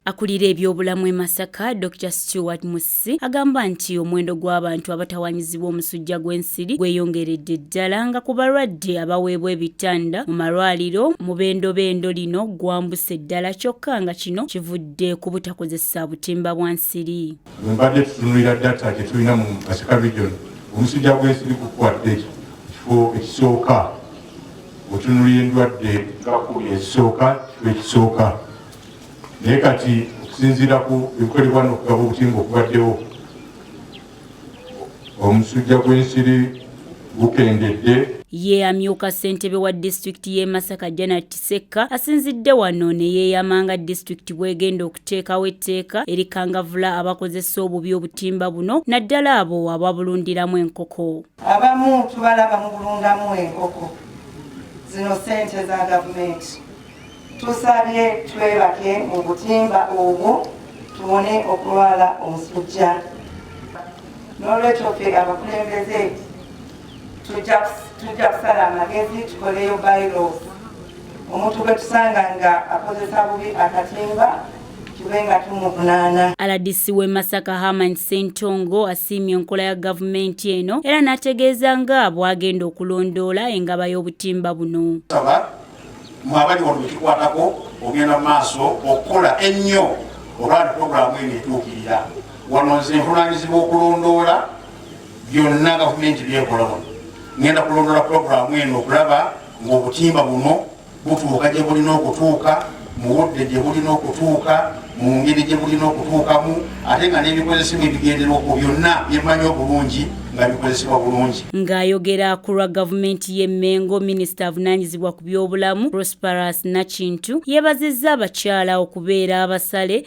Akulira ebyobulamu e Masaka, Dr Stewart Musisi agamba nti omuwendo gw'abantu abatawanyizibwa omusujja gw'ensiri gweyongeredde ddala nga ku balwadde abaweebwa ebitanda mu malwaliro mu bendobendo lino gwambuse ddala kyokka nga kino kivudde ku butakozesa butimba bwa nsiri. Mbadde tutunulira data gye tulina mu Masaka region omusujja gw'ensiri gukwatde ekifo ekisooka mutunulira endwadde nga kumi ezisooka kifo ekisooka naye kati okusinziira ku ebikolebwa nokugaba obutimba okubaddewo omusujja gw'ensiri gukendedde ye amyuka ssentebe wa disitulikiti y'e masaka janat sekka asinzidde wano ne yeeyama nga disitulikiti bw'egenda okuteekawo etteeka erikangavula abakozesa obubi obutimba buno naddala abo ababulundiramu enkoko Abamu tubalaba mu bulungamu enkoko zino sente za gavumenti. Tusabye twebake mu butimba obwo tubone okulwala omusujja. N'olwekyo ffe abakulembeze tujja kusala amagezi tukoleyo bylaws omuntu gwe tusanga nga akozesa bubi akatimba rdc w'e masaka haman sentongo asiimye enkola ya gavumenti eno era n'ategeeza nga bw'agenda okulondoola engaba y'obutimba buno mu abali wano bekikwatako ogenda mu maaso okukola ennyo olwali puroguramu eno etuukirira wano nze nvunanyizibwa okulondoola byonna gavumenti byekola wano ngenda kulondoola puroguramu eno okulaba ng'obutimba buno butuuka gye bulina okutuuka mu budde gye bulina okutuuka mu ngeri gye bulina okutuukamu ate nga n'ebikozesebwa ebigenderwa ku byonna byemanyi obulungi nga bikozesebwa bulungi ng'ayogera ku lwa gavumenti y'e mengo minisita avunaanyizibwa ku by'obulamu prosperous nakintu yeebazizza abakyala okubeera abasale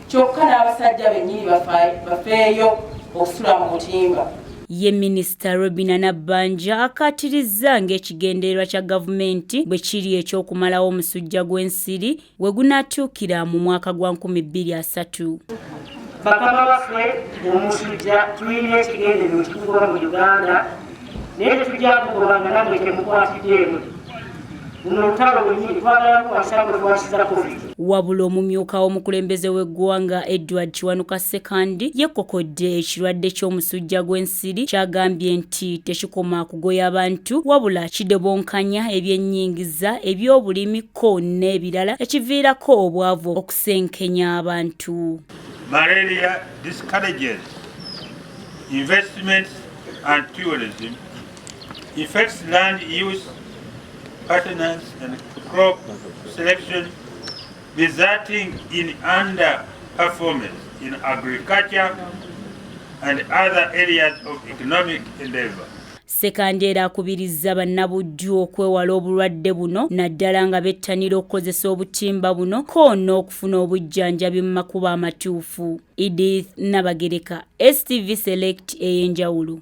kyokka n'abasajja bennyini bafeeyo okusula mu butimba ye minisita robina nabbanja akkaatirizza ng'ekigendererwa kya gavumenti bwe kiri eky'okumalawo omusujja gw'ensiri we gunaatuukira mu mwaka gwa 2030 bakama baffe omusujja tulina ekigendererwa ekikuba mu uganda naye tetujja kugoba nga namwe temukwatiddeemu wabula omumyuka w'omukulembeze w'eggwanga edward kiwanuka sekandi yekokodde ekirwadde ky'omusujja gw'ensiri kyagambye nti tekikoma kugoya abantu wabula kidobonkanya ebyennyingiza eby'obulimi ko n'ebirala ekiviirako obwavu okusenkenya abantu Malaria discourages investments and tourism affects land use patterns and crop selection resulting in underperformance in agriculture and other areas of economic endeavor. Sekandeera akubirizza bannabujju okwewala obulwadde buno naddala nga bettanira okukozesa obutimba buno ko n'okufuna obujjanjabi mu makubo amatuufu. Edith Nabagereka, STV Select ey'enjawulo.